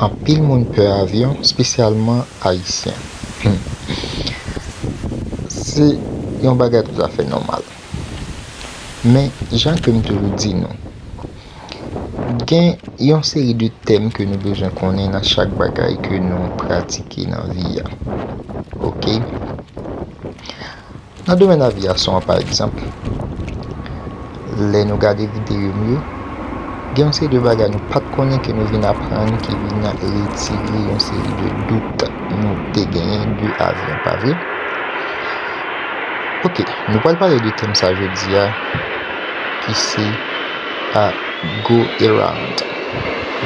Anpil moun pè avyon spesyalman ayisyen humm se yon bagay tout afè nòmal men jan kem toujou di nou gen yon seri de tèm ke nou bezwen konnen nan chak bagay ke nou pratike nan vi a ok Nan domèn aviyasyon an pa egzanp, lè nou gade videyo m yo, gen yon seri de bagay nou pa t konnen ke nou vin aprann ki vin retire yon seri de dout nou te genyen de avyon, pa vre? Ok, nou pral pale de tèm sa jodi a ki se Go-Around,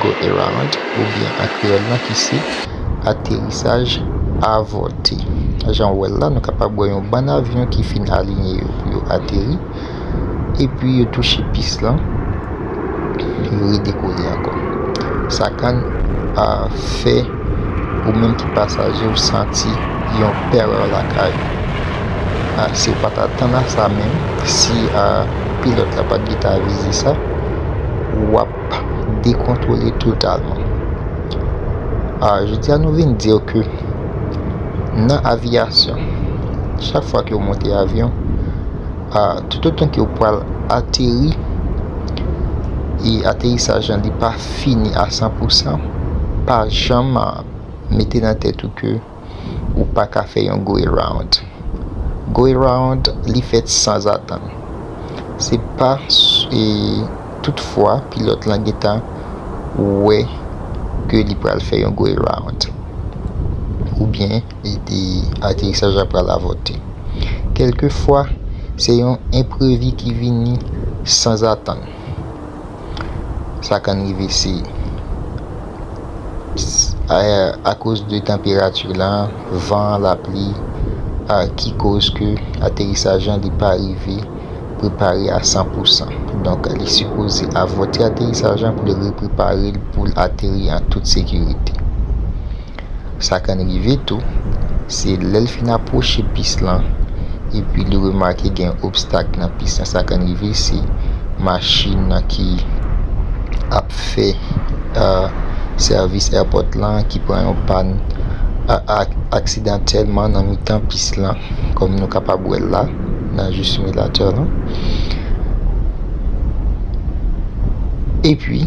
Go-Around oubyen an kreyòl lan ki se. aterisaj avòte. Jan ou wè l la, nou kapab wè yon bann avyon ki fin alinye yo pou yo ateri. Epi yo touche pis lan, yo redekole ankò. Sa kan a fè ou menm ki pasaje ou santi yon pèrè lakay ou. A, si ou pa t atann a sa menm, si a pilòt la pa t gen tan avize sa, w ap. dekontwole totalman. Jodi a nou vin diw ke nan aviyasyon, chak fwa ke ou monte avyon, toutotan ke ou pral ateri, e aterisaj lan li pa fini a 100%, pa janm mete nan tèt ou ke. ou pa ka fè yon go around. Go around li fèt san zatann. Se pa tout fwa pilòt lan gentan wè ke li pral fè yon go around. Ou byen aterisaj la pral avòte. Kelke fwa se yon enprevi ki vini san zatann. sa kan rive si a koz de tanperati la van la pli ki koz ke aterisaj an li pa rive prepare a 100 pou 100 donk li sipoze avoti aterisaj an pou l reprepare l pou l ateri an tout sekirite Sa kann rive tou, se lè l fin apwoche pis lan epi li remake gen obstak nan pis lan, sa kann rive se machin nan ki ap fè sèvis èpòt lan ki pran yon pàn aksidantèlman nan mitan pis lan, kòm nou kapab wè l la nan je similatè lan. Epi.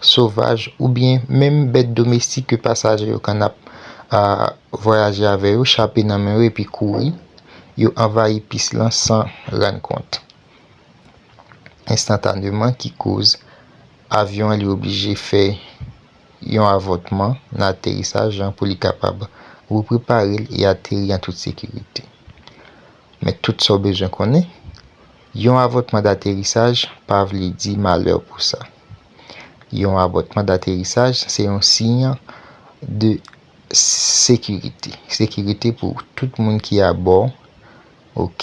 sovaj oubyen menm bèt domestik ke pasaje yo konn ap vwayaje avè yo chape nan men yo epi kouri, yo anvayi pis lan san rann kont enstantaneman ki koz avyon an li oblije fè yon avòtman nan aterisaj an pou li kapab reprepare l e ateri an tout sekirite. Men tout sa w bezwen konnen, Yon avòtman daterisaj pa vle di malè pou sa. Yon avòtman daterisaj se yon siy de sekirite. Sekirite pou tout moun ki abò, ok.